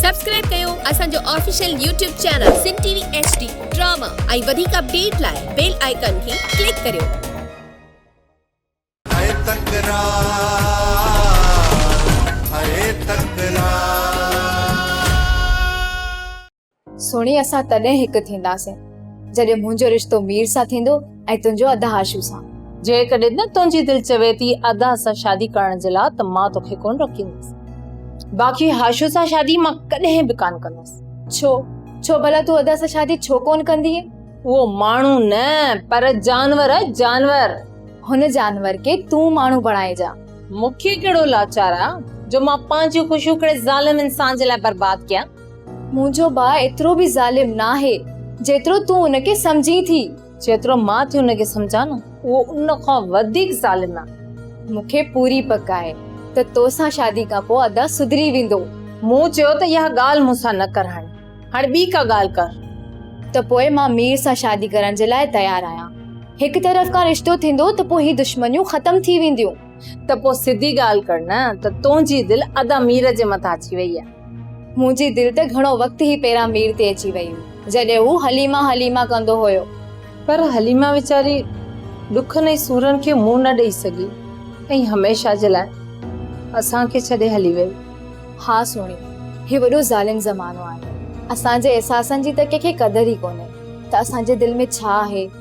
Subscribe ڪيو اسان جو official YouTube channel Sindh T V H D drama ۽ وڌيڪ اپڊيٽ لاء بيل آئيڪان کي ڪلڪ ڪريو. هيء تڪرار هيء تڪرار. سهڻي اسان تڏهن هڪ ٿينداسين جڏهن منهنجو رشتو مير سان ٿيندو. ۽ تنهنجو ادا هاشو سان. جيڪڏهن تنهنجي دل چوي ٿي ادا سان شادي ڪرڻ جي لا ته مان توکي ڪونه روڪيندس. باقي هاشو سان شادي مان ڪڏهن به ڪانه ڪندس. ڇو؟ ڇو ڀلا تون ادا سان شادي ڇو ڪونه ڪندينء؟ اهو ماڻهو نه پر جانور آهي جانور. هن جانور کي تون ماڻهو بڻائي جا. مونکي ڪهڙو لاچار آهي جو مان پنهنجيون خوشيون ڪهڙي ظالم انسان جي لاء برباد ڪيان. منهنجو ڀاء ايترو به ظالم ناهي جيترو تون ان کي سمجهين ٿي. جيترو مان ٿي ان کي سمجهان نه اهو ان کان وڌيڪ ظالم آهي. مون کي پوري پڪ آهي ته توسان شادي کان پوء ادا سڌري ويندو. مون چيو ته اها ڳالهه مون سان نه ڪر هاڻي هاڻي ٻي ڪا ڳالهه ڪر. ته پوء مان مير سان شادي ڪرڻ جي لاء تيار آهيان. هڪ طرف کان رشتو ٿيندو ته پوء هي دشمنيون ختم ٿي وينديون. ته پوء سڌي ڳالهه ڪر نه ته تنهنجي دل ادا مير جي مٿان اچي وئي آهي. منهنجي دل ته گهڻو وقت هي پيران مير تي اچي وئي هئي، جڏهن هو حليمه حليمه ڪندو هيو. پر حليمه ويچاري ڏکن ۽ سورن کي منهن نه ڏئي سگهي ۽ هميشه جي لاء اسان کي ڇڏي هلي ويئي. ها سهڻي، هي وڏو ظالم زمانو آهي. اسان جي احساسن جي ته ڪنهن کي قدر ئي ڪونهي ته اسان جي دل ۾ ڇا آهي.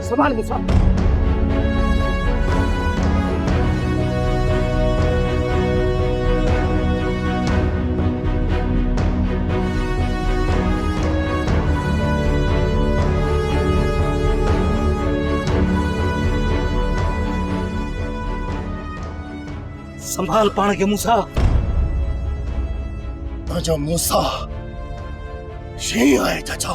سنڀال مصعب! سنڀال پاڻ کي موسيٰ! تنهنجو موسيٰ شينهن آهي چچا!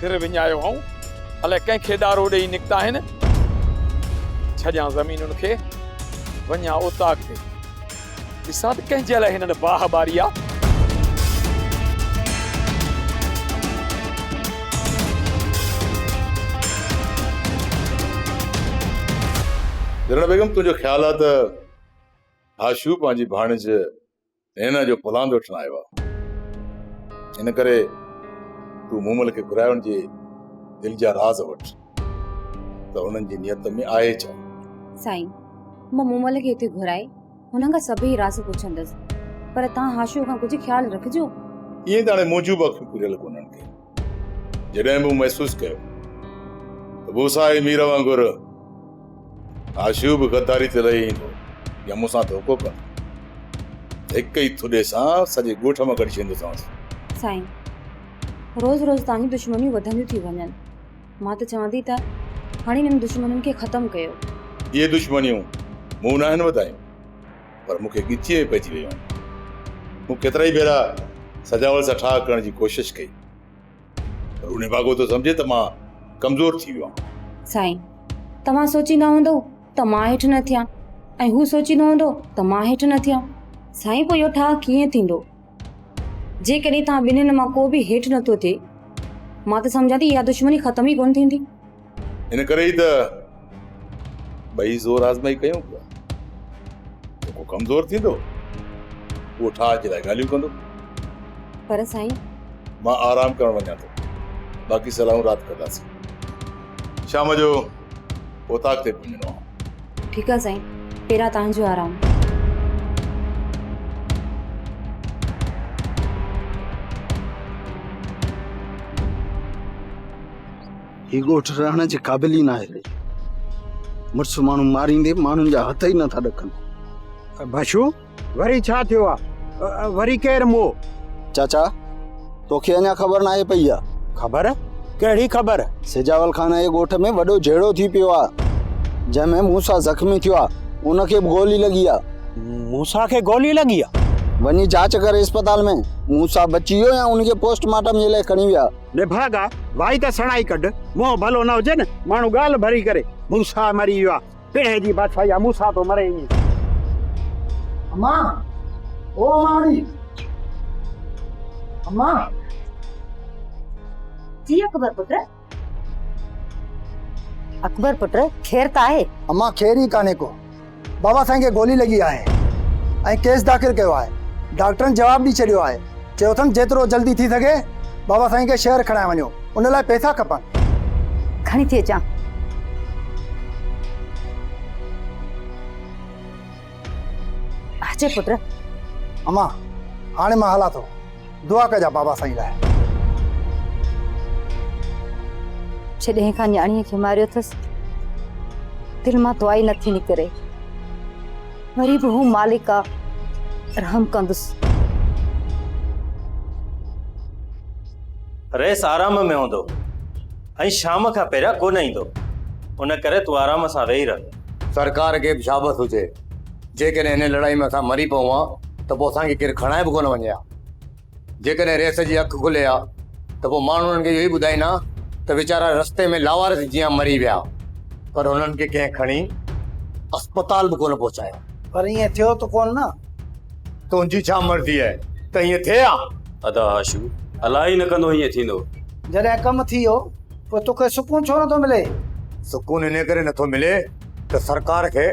سر وڃايو هئائون الائي ڪنهن کي ڏارو ڏيئي نڪتا آهن ڇڄان زمينن کي وڃان اوطاق تي ڏسان ته ڪنهن جي لاء هنن باهه ٻاري آ. جهرڻ بيگم تنهنجو خيال آ ته هاشو پنهنجي ڀاڻيج هينا جو پلاند وٺڻ آيو آ. ان ڪري تون مومل کي گهرائي ان جي دل جا راز وٺ. ته انهن جي نيت ۾ آهي ڇا؟ سائين، مان مومل کي هتي گهرائي هنن کان سڀئي راز پڇندس، پر توهان هاشوء کان ڪجهه خيال رکجو. ائين ته هاڻي منهنجون به اکيون کليل ڪونهن ڪي. جڏهن مون محسوس ڪيو ته موسيٰ ۽ مير وانگر هاشوء به غداري تي لهي ايندو يا مون سان ڌوڪو ڪندو ته هڪ ئي ٿڏي سان سڄي ڳوٺ مان ڪڍي ڇڏيندوسانس. سائين، روز روز توهان جون دشمنيون وڌنديون ٿيون وڃن. مان ته چوان ٿي ته هاڻي انهن دشمنين کي ختم ڪيو. اهي دشمنيون مون ناهن وڌايون پر مون کي ڳچيء ۾ پئجي ويون آهن. مون ڪيترائي ڀيرا سجاول سان ٺاهه ڪرڻ جي ڪوشش ڪئي پر هو نڀاڳو ٿو سمجهي ته مان ڪمزور ٿي ويو آهيان. سائين، توهان سوچيندا هوندؤ ته مان هيٺ نه ٿيان ۽ هو سوچيندو هوندو ته مان هيٺ نه ٿيان. سائين پوء اهو ٺاهه ڪيئن ٿيندو؟ جيڪڏهن توهان ٻنهين مان ڪو به هيٺ نه ٿو ٿئي، مان ته سمجهان ٿي اها دشمني ختم ئي ڪونه ٿيندي. ان ڪري ئي ته ٻئي زور آزمائي ڪيون پيا. جيڪو ڪمزور ٿيندو، اهو ٺاهه جي لاء ڳالهيون ڪندو. پر سائين. مان آرام ڪرڻ وڃان ٿو، باقي صلاحون رات ڪنداسين. شام جو اوطاق تي پهچڻو آ. ٺيڪ آ سائين پهريان توهان جو آرام. هي ڳوٺ رهڻ جي قابل ئي ناهي رهي. مڙس ماڻهو ماريندي ماڻهن جا هٿ ئي نٿا ڏڪن. باشو! وري ڇا ٿيو آ؟ وري ڪير مئو؟ چاچا، توکي اڃا خبر ناهي پئي آ. خبر؟ ڪهڙي خبر؟ سجاول خان جي ڳوٺ ۾ وڏو جهيڙو ٿي پيو آ، جنهن ۾ موسيٰ زخمي ٿيو آ، ان کي به گولي لڳي آ. موسيٰ کي گولي لڳي آ؟ وڃي جاچ ڪر اسپتال ۾، موسيٰ بچي ويو يا ان کي پوسٽ مارٽم جي لاء کڻي ويا. نڀاڳا، وائي ته سڻائي ڪڍ، منهن ڀلو نه هجي نه، ماڻهو ڳالهه ڀري ڪري، موسيٰ مري ويو آ، پيڙهي جي بادشاهي آ مون سان ٿو مري ايئن. اما او اماڙي اما. جي اڪبر پٽ. اڪبر پٽ خير ته آهي. اما خير ئي ڪانهي ڪو بابا سائين کي گولي لڳي آهي ۽ ڪيس داخل ڪيو آهي ڊاڪٽرن جواب ڏئي ڇڏيو آهي. چيو اٿن جيترو جلدي ٿي سگهي بابا سائين کي شهر کڻائي وڃو ان لاء پئسا کپن. کڻي ٿي اچان. اچي پٽ. امان هاڻي مان هلان ٿو دعا ڪجان بابا سائين لاء. جڏهن کان نياڻيء کي ماريو اٿس دل مان دعا ئي نٿي نڪري. وري به هو مالڪ آ رحم ڪندس. رئيس آرام ۾ هوندو ۽ شام کان پهريان ڪونه ايندو، ان ڪري تون آرام سان ويهي رهه. سرڪار کي به شابس هجي، جيڪڏهن هن لڙائي ۾ اسان مري پئون ها ته پوء اسان کي ڪير کڻائي به ڪونه وڃي ها. جيڪڏهن ريس جي اک کلي ها ته پوء ماڻهو انهن کي اهو ئي ٻڌائين ها ته ويچارا رستي ۾ لاوارث جيان مري ويا پر انهن کي ڪنهن کڻي اسپتال به ڪونه پهچايو. پر ائين ٿيو ته ڪونه نه. تنهنجي ڇا مرضي آهي ته ائين ٿئي ها؟ ادا هاشم، الاء ئي نه ڪندو ائين ٿيندو. جڏهن ڪم ٿي ويو پوء توکي سڪون ڇو نٿو ملي؟ سڪون انهيء ڪري نٿو ملي ته سرڪار کي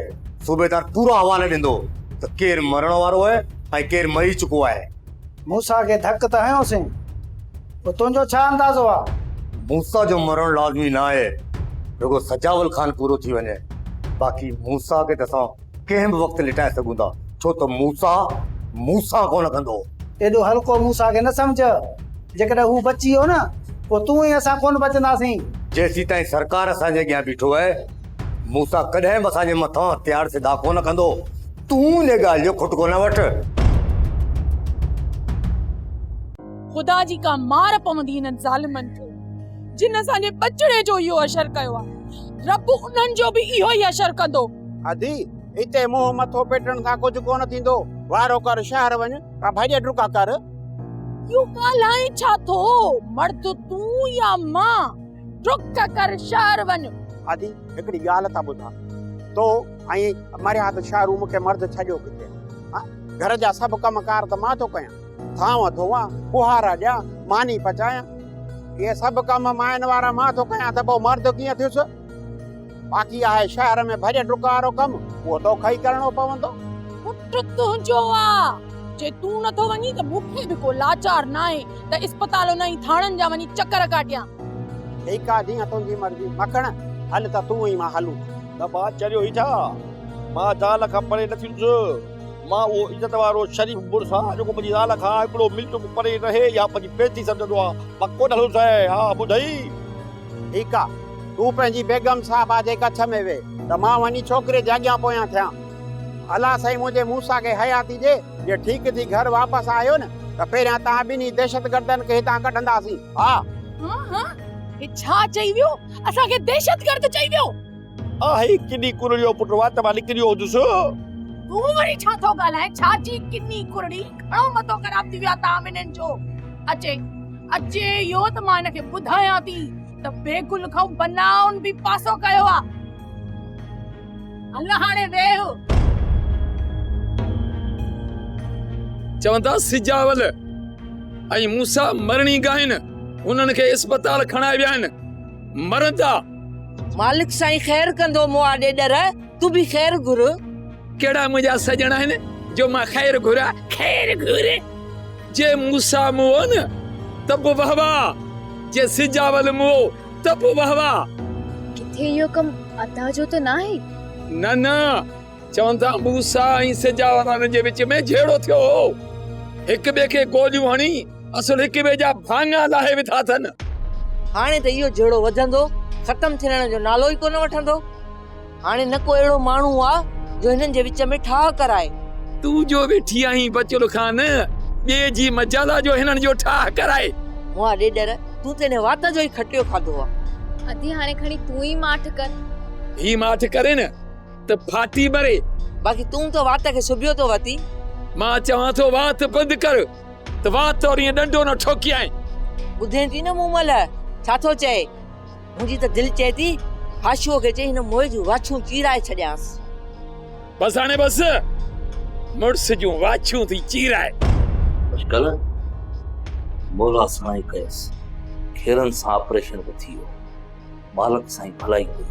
صوبيدار پورا حوالا ڏيندو ته ڪير مرڻ وارو آهي ۽ ڪير مري چڪو آهي. موسيٰ کي ڌڪ ته هنيوسين، پوء تنهنجو ڇا اندازو آ؟ موسيٰ جو مرڻ لازمي نه آهي، رڳو سجاول خان پورو ٿي وڃي، باقي موسيٰ کي ته اسان ڪنهن به وقت لٽائي سگهون ٿا، ڇو ته موسيٰ مون سان ڪونه ڪندو. ايڏو هلڪو موسيٰ کي نه سمجهه، جيڪڏهن هو بچي ويو نه، پوء تون ۽ اسان ڪونه بچنداسين. جيسيتائين سرڪار اسان جي اڳيان بيٺو آهي، موسيٰ ڪڏهن به اسان جي مٿان هٿيار سڌا ڪونه ڪندو. تون ان ڳالهه جو کٽڪو نه وٺ. خدا جي ڪا مار پوندي انهن ظالمن کي جن اسان جي ٻچڙي جو اهو اشر ڪيو آهي. رب انهن جو به اهو ئي اشر ڪندو. ادي، اتي منهن مٿو پيٽڻ سان ڪجهه ڪونه ٿيندو. وارو ڪر شهر وڃ ۽ ڀڄ ڊڪا ڪر. اهو ڳالهائين ڇا ٿو؟ مرد تون يا مان؟ ڊڪ ڪر شهر وڃ. ادي، هڪڙي ڳالهه ٿا ٻڌان. تو ۽ مريا ته شاهه روم کي مرد ڇڏيو ڪٿي هان گهر جا سڀ ڪم ڪار ته مان ٿو ڪيان ٿانو ڌوئان ڪهارا ڏيان ماني پچايان اهي سڀ ڪم مائن وارا مان ٿو ڪيان ته پوء مرد ڪيئن ٿيس باقي آهي شهر ۾ ڀڄ ڊڪ وارو ڪم اهو توکي ئي ڪرڻو پوندو پٽ تنهنجو آهي جي تون نٿو وڃين ته مون کي به ڪو لاچار ناهي ته اسپتالن ۽ ٿاڻن جا وڃي چڪر ڪاٽيان ٺيڪ آهي جيئن تنهنجي مرضي مکڻ هل ته تون ۽ مان هلون نه ڀاء چريو هي ڇا؟ مان زال کان پري نه ٿيندس. مان اهو عزت وارو شريف مڙس آهيان جيڪو پنهنجي زال کان هڪڙو ميل چوڪ پري رهي يا پنهنجي بيعزتي سمجهندو آهي. مان ڪونه هلندس هيء ها ٻڌئي. ٺيڪ آ. تون پنهنجي بيگم صاحبه جي ڪڇ ۾ ويهه ته مان وڃي ڇوڪري جي اڳيان پويان ٿيان. الا سائين منهنجي موسيٰ کي حياتي ڏي. جي ٺيڪ ٿي گهر واپس آيو نه ته پهريان توهان ٻنهي دهشتگردن کي هتان ڪڍنداسين. ها. ها ها هي ڇا چئي ويو؟ اسان کي دهشتگرد چئي ويو. آهي ڪني ڪرڙي جو پٽ وات مان نڪري ويو هوندس. تون وري ڇا ٿو ڳالهائين ڇا جي ڪني ڪرڙي گهڻو مٿو خراب ٿي ويو آهي تام هنن جو اچي اچي اهو ته مان هن کي ٻڌايان ٿي ته بيگل کان بنائن به پاسو ڪيو آهي. هل هاڻي ويهه. چون ٿا سجاول ۽ موسا مرڻي ڳائن انهن کي اسپتال کڻائي ويا آهن مرندا مالڪ سائين خير ڪندو مون آڏي ڏر تون به خير گهر ڪهڙا منهنجا سڄڻ آهن جو مان خير گهران خير گهر جي موسا مون ته به وهوا جي سجاول مون ته پوء واه واه. ڪٿي اهو ڪم ادا جو ته ناهي؟ نه نه، چون ٿا موسيٰ ۽ سجا وارن جي وچ ۾ جهيڙو ٿيو هو. هڪ ٻئي کي گوليون هڻي اصل هڪ ٻئي جا ڀاڱا لاهي وڌا اٿن. هاڻي ته اهو جهيڙو وڌندو، ختم ٿيڻ جو نالو ئي ڪونه وٺندو. هاڻي نه ڪو اهڙو ماڻهو آ، جو هنن جي وچ ۾ ٺاهه ڪرائي. تون جو ويٺي آهين بچل خان، ٻئي جي مجال آ جو هنن جو ٺاهه ڪرائي. مئا ڏيڏر، تون ته هن وات جو ئي کٽيو کاڌو آ. ادي هاڻي کڻي تون ئي ماٺ ڪر. هي ماٺ ڪري نه ته ڦاٽي مري. باقي تون ته وات کي سبيو ٿو وتي. مان چوان ٿو وات بند ڪر، ته وات طور ائين ڏنڊو نه ٺوڪيائين. ٻڌين ٿي نه مون مئل ڇا ٿو چئي. منهنجي ته دل چئي ٿي حاشوء کي چئي هن موئي جون واڇون چيرائي ڇڏيانس. بس هاڻي بس مڙس جون واڇون ٿي چيرائي. اڄڪلهه مولا سائين ڪيس کيرن سان آپريشن به ٿي ويو. مالڪ سائين ڀلائي ڪئي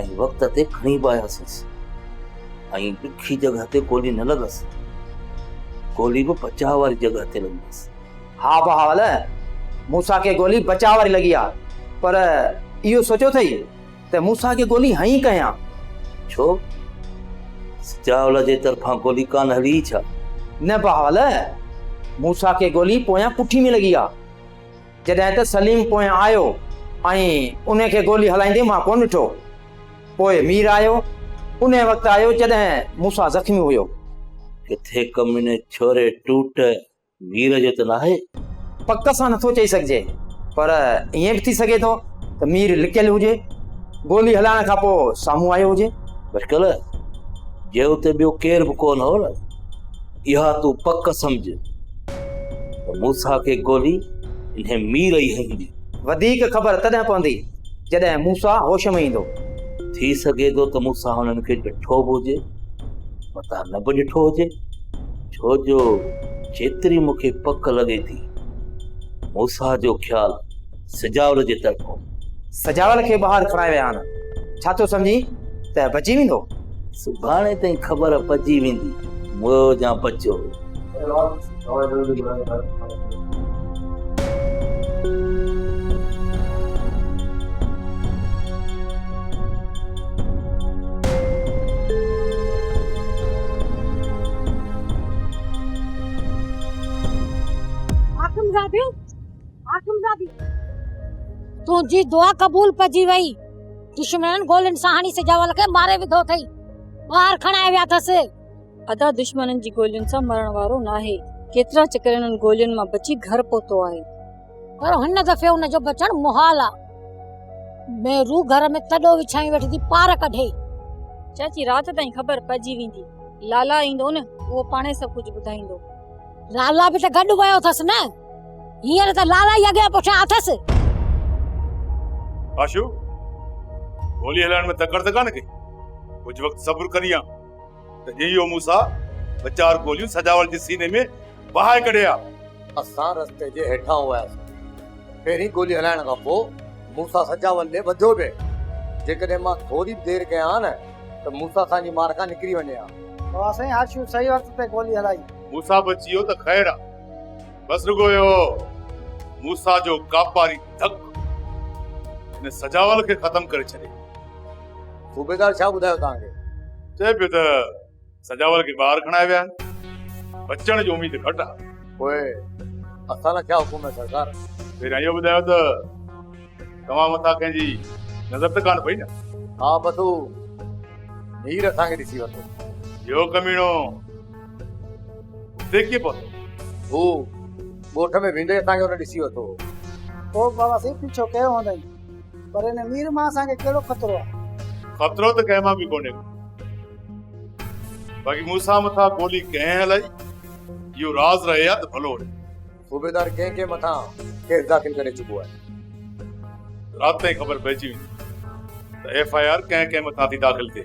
۽ وقت تي کڻي به آياسينس ۽ ڏکي جڳهه تي گولي نه لڳس. گولي به بچاء واري جڳهه تي لڳي هيس. ها بهاول، موسيٰ کي گولي بچاء واري لڳي آ، پر اهو سوچيو اٿئي ته موسيٰ کي گولي هنئين ڪيان؟ ڇو؟ سجاول جي طرفان گولي ڪانه هلي ئي ڇا؟ نه بهاول، موسيٰ کي گولي پويان پٺي ۾ لڳي آ، جڏهن ته سليم پويان آيو ۽ انهي کي گولي هلائيندي مان ڪونه ڏٺو. پوء مير آيو، انهي وقت آيو جڏهن موسيٰ زخمي هيو. ڪٿي ڪميني ڇوري ٽوٽ مير جو ته ناهي. پڪ سان نٿو چئي سگهجي پر ائين به ٿي سگهي ٿو ته مير لڪيل هجي، گولي هلائڻ کان پوء سامهون آيو هجي. بشڪل جي اتي ٻيو ڪير به ڪونه هو نه، اها تون پڪ سمجهه ته موسيٰ کي گولي انهي مير ئي هنئي هوندي. وڌيڪ خبر تڏهن پوندي جڏهن موسيٰ هوش ۾ ايندو. ٿي سگهي ٿو ته موسيٰ هنن کي ڏٺو به هجي، متان نه به ڏٺو هجي. ڇو جو جيتري مون کي پڪ لڳي ٿي موسيٰ جو خيال سجاول جي طرف هو. سجاول کي ٻاهر کڻائي ويا آهن، ڇا ٿو سمجهين ته بچي ويندو؟ سڀاڻي تائين خبر پئجي ويندي مئو جان بچيو هو. تنهنجي دعا قبول پئجي وئي دشمنن گولين سان هڻي سجاول کي ماري وڌو اٿئي ٻاهر کڻائي ويا اٿس ادا دشمنن جي گولين سان مرڻ وارو ناهي ڪيترا چڪر انهن گولين مان بچي گهر پهتو آهي پر هن دفعي ان جو بچڻ محال آ ۾ روح گهر ۾ تڏو وڇائي ويٺي ٿي پار ڪڍي چاچي رات تائين خبر پئجي ويندي لالا ايندو نه اهو پاڻي سڀ ڪجهه ٻڌائيندو لالا به ته گڏ ويو اٿس نه هينئر ته لالا ئي اڳيان پٺيان اٿس آشو گولي هلائڻ ۾ تڪڙ ته ڪانه ڪي ڪجهه وقت صبر ڪريان ته ايو موسيٰ ٻه چار گوليون سجاول جي سيني ۾ وهائي ڪڍي آ. اسان رستي جي هيٺان هئاسين. پهرين گولي هلائڻ کان پوء موسيٰ سجاول ڏي وڌيو به. جيڪڏهن مان ٿوري به دير ڪيان ها نه ته موسيٰ اسان جي مار کان نڪري وڃي ها. واهه سائين هرشيو صحيح وقت تي گولي هلائي. موسيٰ به چيو ته خير آ. بس رڳو اهو موسيٰ جو ڪاپاري ڌڪ هن سجاول کي ختم ڪري ڇڏي. صوبيدار ڇا ٻڌايو توهان کي؟ چئي پيو ته سجاول کي ٻاهر کڻائي ويا آهن. بچڻ جي اميد گهٽ آهي. پوء اسان لاء ڇا حڪم آهي سردار؟ پهريان اهو ٻڌايو ته توهان مٿان ڪنهن جي نظر ته ڪانه پئي نه؟ ها بس هو نير اسان کي ڏسي ورتو. اهو ڪميڻو هتي ڪيئن پهتو؟ هو ڳوٺ ۾ ويندي اسان کي هن ڏسي ورتو هو. پوء بابا سائين پيڇو ڪيو هوندائين. پر هن مير مان اسان کي ڪهڙو خطرو آهي؟ خطرو ته ڪنهن مان به ڪونهي ڪو. باقي موسيٰ مٿان گولي ڪنهن هلائي، اهو راز رهي ها ته ڀلو هو. صوبيدار ڪنهن ڪنهن مٿان ڪيس داخل ڪري چڪو آهي؟ رات تائين خبر پئجي ويندي ته ايف آء آر ڪنهن ڪنهن مٿان ٿي داخل ٿئي.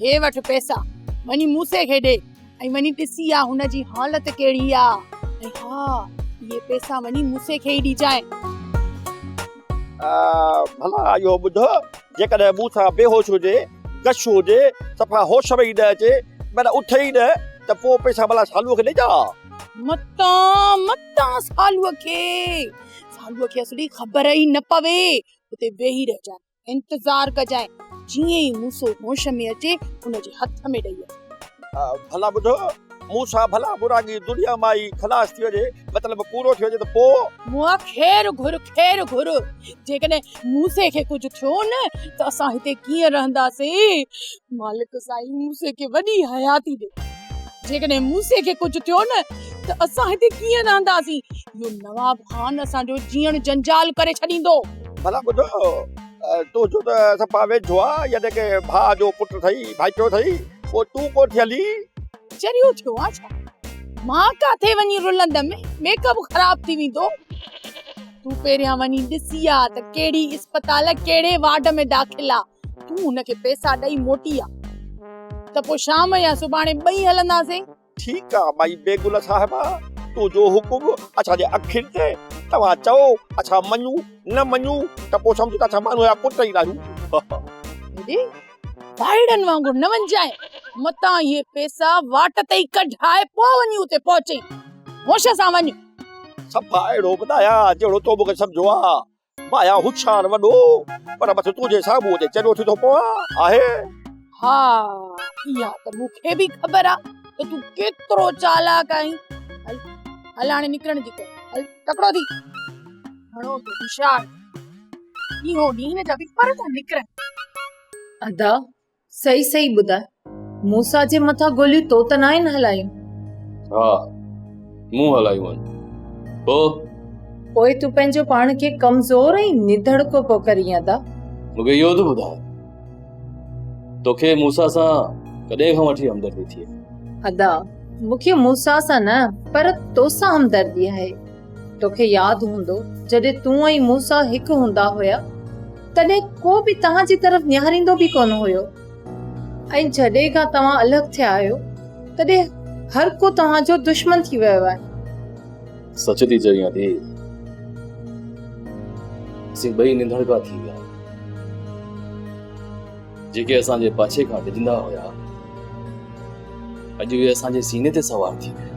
هي وٺ پئسا، وڃي موسي کي ڏي ۽ وڃي ڏسي آ هن جي حالت ڪهڙي آ ۽ ها اهي پئسا وڃي موسي کي ئي ڏجانء. ڀلا اهو ٻڌ، جيڪڏهن مون سان بيهوش هجي، غش هجي، صفا هوش ۾ ئي نه اچي، معنيٰ اٿي ئي نه، ته پوء پئسا ڀلا سالوء کي ڏجان ها؟ متان، متان سالوء کي، سالوء کي اصلي خبر ئي نه پوي، اتي ويهي رهجانء. انتظار ڪجانء، جيئن ئي موسو هوش ۾ اچي، ان جي هٿ ۾ ڏئي اچ. ڀلا ٻڌ، موسا، ڀلا ٻوراڳي دنيا مان ئي خلاص ٿي وڃي، مطلب پورو ٿي وڃي ته پوء؟ مون خير گهر، خير گهر، جيڪڏهن موسي کي ڪجهه ٿيو نه ته اسان هتي ڪيئن رهنداسين؟ مالڪ سائين موسي کي وڏي حياتي ڏي. جيڪڏهن موسي کي ڪجهه ٿيو نه ته اسان هتي ڪيئن رهنداسين؟ اهو نواب خان اسان جو جيئڻ جنجال ڪري ڇڏيندو. ڀلا ٻڌ، تنهنجو ته اسان پاڻ ويجهو آ، يعني ڪنهن ڀاء جو پٽ اٿئي، ڀائٽو اٿئي، پوء تون ڪونه ٿي هلين؟ چريو ٿيو آ ڇا؟ مان ڪاٿي وڃي رلندم، ميڪ اپ خراب ٿي ويندو. تون پهريان وڃي ڏسي آ ته ڪهڙي اسپتال، ڪهڙي وارڊ ۾ داخل آ. تون هن کي پئسا ڏئي موٽي آ ته پوء شام يا سڀاڻي ٻئي هلنداسين. ٺيڪ آ مائي بيگل صاحبه تو جو حڪم اسان جي اکين تي توهان چئو اسان مڃون نه مڃون ته پوء سمجهه ته اسان ماڻهوء جا پٽ ئي ناهيون. هيڏي ڀائڙن وانگر نه وڃجانء متان اهي پئسا واٽ تي ئي ڪڍاء پوء وڃي اتي پهچين. هوش سان وڃ. صفا اهڙو ٻڌايان جهڙو تو مون کي سمجهيو آ. مايا هوشيار وڏو پر بس تنهنجي سامهون جي چريو ٿي ٿو پوان آهي. ها اها ته مون کي به خبر آ ته تون ڪيترو چالاڪ آهين هل هل هاڻي نڪرڻ جي ڪر هل تڪڙو ٿي گهڻو ٿو هوشيار ٿي اهو ڏينهن جا به پر ٿا نڪرن ادا سهي سهي ٻڌاء موسا جي مٿان گوليون تو ته ناهن هلايون ها مون هلايون آهن پوء پوء تون پنهنجو پاڻ کي ڪمزور ۽ نڌڙڪو پو ڪرين ادا مونکي اهو ته ٻڌاء توکي موسا سان ڪڏهن کان وٺي همدردي ٿي ادا مونکي موسا سان نه پر توسان همدردي آهي توکي ياد هوندو جڏهن تون ۽ موسيٰ هڪ هوندا هيا تڏهن ڪو به توهان جي طرف نهاريندو به ڪونه هيو ۽ جڏهن کان توهان الڳ ٿيا آهيو تڏهن هر ڪو توهان جو دشمن ٿي ويو آهي سچ ٿي چوين ٿي اسين ٻئي ننڌڙڪا ٿي ويا جيڪي اسان جي پاڇي کان ڊڄندا هيا، اڄ اهي اسان جي سيني تي سوار ٿي ويا.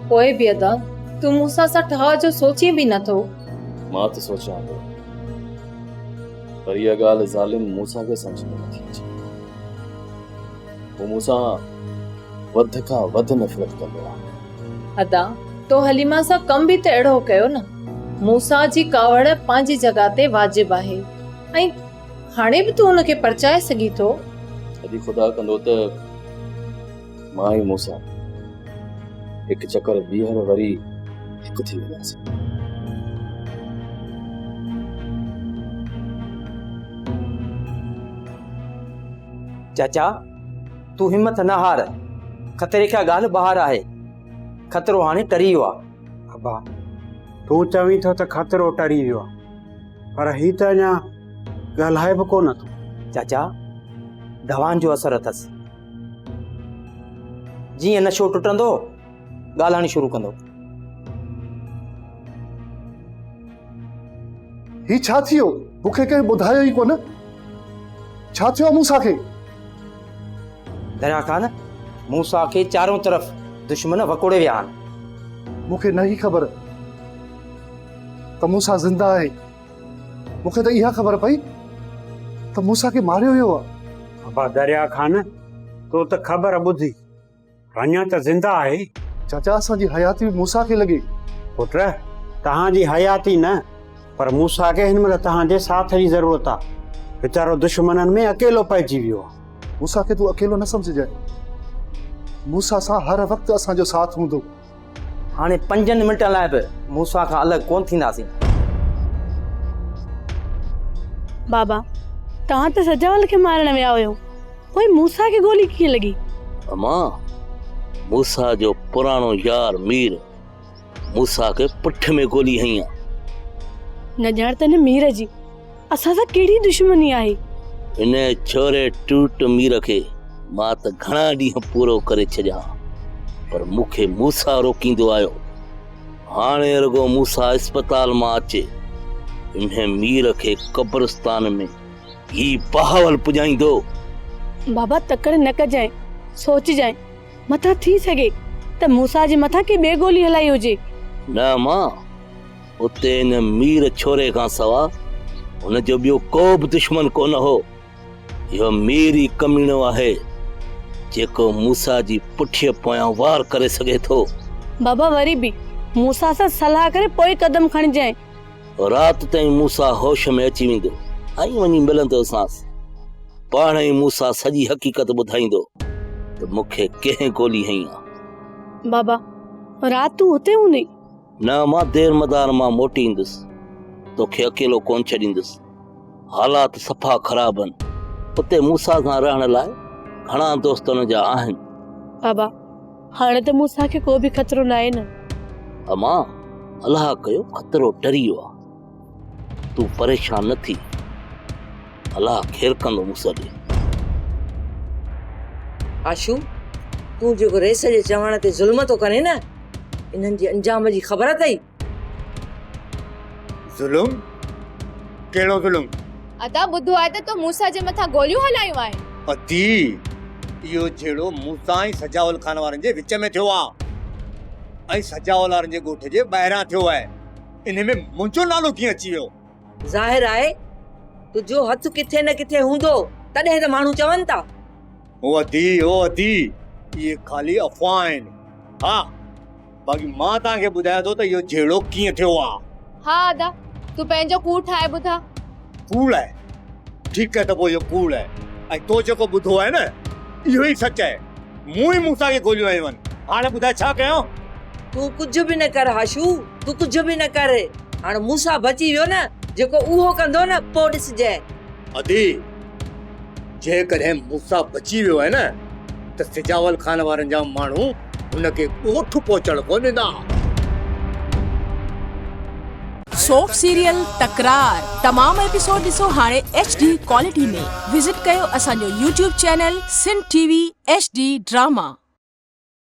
پوء به ادا، تون مون سان اسان ٺاهه جو سوچين به نه ٿو. مان ته سوچيان ٿو، پر اها ڳالهه ظالم موسيٰ کي سمجهه ۾ نه ٿي اچي. هو مون سان وڌ کان وڌ نفرت ڪندو آهي. ادا، تو حليمه سان ڪم به ته اهڙو ڪيو نه. موسيٰ جي ڪاوڙ پنهنجي جڳهه تي واجب آهي ۽ هاڻي به تون ان کي پرچائي سگهين ٿو. جي خدا ڪندو ته مان ۽ موسيٰ هڪ چڪر ٻيهر وري هڪ ٿي وينداسين. چاچا تون همٿ نه هار، خطري کان ڳالهه ٻاهر آهي، خطرو هاڻي ٽري ويو آهي. ابا تون چوين ٿو ته خطرو ٽري ويو آهي. پر هي ته اڃا ڳالهائي به ڪو نه ٿو چاچا دوائن جو اثر اٿس جيئن نشو ٽٽندو ڳالهائڻ شروع ڪندو هي ڇا ٿيو مونکي ڪنهن ٻڌايو ئي ڪونه ڇا ٿيو موسا کي دريا خان موسا کي چارون طرف دشمن وڪوڙي ويا آهن مونکي نه هي خبر ته موسيٰ زنده آهي. مون کي ته اها خبر پئي ته موسيٰ کي ماريو ويو آهي. ابا دريا خان، تو ته خبر ٻڌي، اڃا ته زنده آهي. چاچا اسان جي حياتي به موسيٰ کي لڳي. پٽ، توهان جي حياتي نه، پر موسيٰ کي هن مهل توهان جي ساٿ جي ضرورت آهي. ويچارو دشمنن ۾ اڪيلو پئجي ويو آهي. موسيٰ کي تون اڪيلو نه سمجهجانء. موسيٰ سان هر وقت اسان جو ساٿ هوندو. هاڻي پنجن منٽن لاء به موسيٰ کان الڳ ڪونه ٿينداسين. بابا، توهان ته سجاول کي مارڻ ويا هيو، پوء موسيٰ کي گولي ڪيئن لڳي؟ اما، موسيٰ جو پراڻو يار مير، موسيٰ کي پٺ ۾ گولي هنئي ها. نه ڄاڻ ته هن مير جي. اسان سان ڪهڙي دشمني آهي؟ هن ڇوري ٽوٽ مير کي مان ته گهڻا ڏينهن پورو ڪري ڇڏيا ها پر مون کي موسا روڪيندو آيو. هاڻي رڳو موسا اسپتال مان اچي انهي مير کي قبرستان ۾ هي بهاول پڄائيندو. بابا تڪڙ نه ڪجانء، سوچجانء، متان ٿي سگهي ته موسا جي مٿان ڪي ٻي گولي هلائي هجي. نه مان! اتي ان مير ڇوري کان سوا هن جو ٻيو ڪو به دشمن ڪونه هو. اهو مير ئي ڪميڻو آهي، جيڪو موسيٰ جي پٺيء پويان وار ڪري سگهي ٿو. بابا وري به موسيٰ سان صلاح ڪري پوء قدم کڻجانء. رات تائين موسيٰ هوش ۾ اچي ويندو ۽ وڃي ملندوسانس. پاڻ ئي موسيٰ سڄي حقيقت ٻڌائيندو ته مون کي ڪنهن گولي هنئي آ. بابا، رات تون هتي هوندين؟ نه مان دير مدار مان موٽي ايندس توکي اڪيلو ڪون ڇڏيندس حالات صفا خراب آهن اتي موسا سان رهڻ لاء گهڻا دوست ان جا آهن بابا هاڻي ته موسا کي ڪو به خطرو ناهي نه امان الله ڪيو خطرو ٽري ويو آهي تون پريشان نه ٿي الله خير ڪندو مون سان ڏي. آشو تون جيڪو رئيس جي چوڻ تي ظلم ٿو ڪرين نه انهن جي انجام جي خبر اٿئي. ظلم ڪهڙو ظلم. ادا ٻڌو آهي ته تو موسيٰ جي مٿان گوليون هلايون آهن. ادي اهو جهيڙو موسيٰ ۽ سجاول خان وارن جي وچ ۾ ٿيو آهي ۽ سجاول وارن جي ڳوٺ جي ٻاهران ٿيو آهي. انهي ۾ منهنجو نالو ڪيئن اچي ويو؟ ظاهر آهي تنهنجو هٿ ڪٿي نه ڪٿي هوندو تڏهن ته ماڻهو چون ٿا. او ادي او ادي اهي خالي افواهه آهن. ها باقي مان توهان کي ٻڌايان ٿو ته اهو جهيڙو ڪيئن ٿيو آهي. ها ادا تون پنهنجو ڪوڙ ٺاهي ٻڌاء. ڪوڙ آهي. ٺيڪ ته پوء اهو ڪوڙ آهي ۽ تو جيڪو ٻڌو آهي نه اهو ئي سچ آهي. مون ئي موسيٰ کي گوليون هنيون آهن. هاڻ ٻڌاء ڇا ڪيان؟ تون ڪجهه به نه ڪر هاشو، تون ڪجهه به نه ڪر. هاڻ موسيٰ بچي ويو نه، جيڪو اهو ڪندو نه پوء ڏسجانء. ادي! جيڪڏهن موسيٰ بچي ويو آهي نه ته سجاول خان وارن جا ماڻهو هن کي ڳوٺ پهچڻ ڪونه ڏيندا. سوپ سيريل تڪرار تمام ايپيسوڊ ڏسو هاڻي ايڇ ڊي ڪوالٽي ۾ وزٽ ڪيو اسان جو YouTube channel Sindh T V H D drama.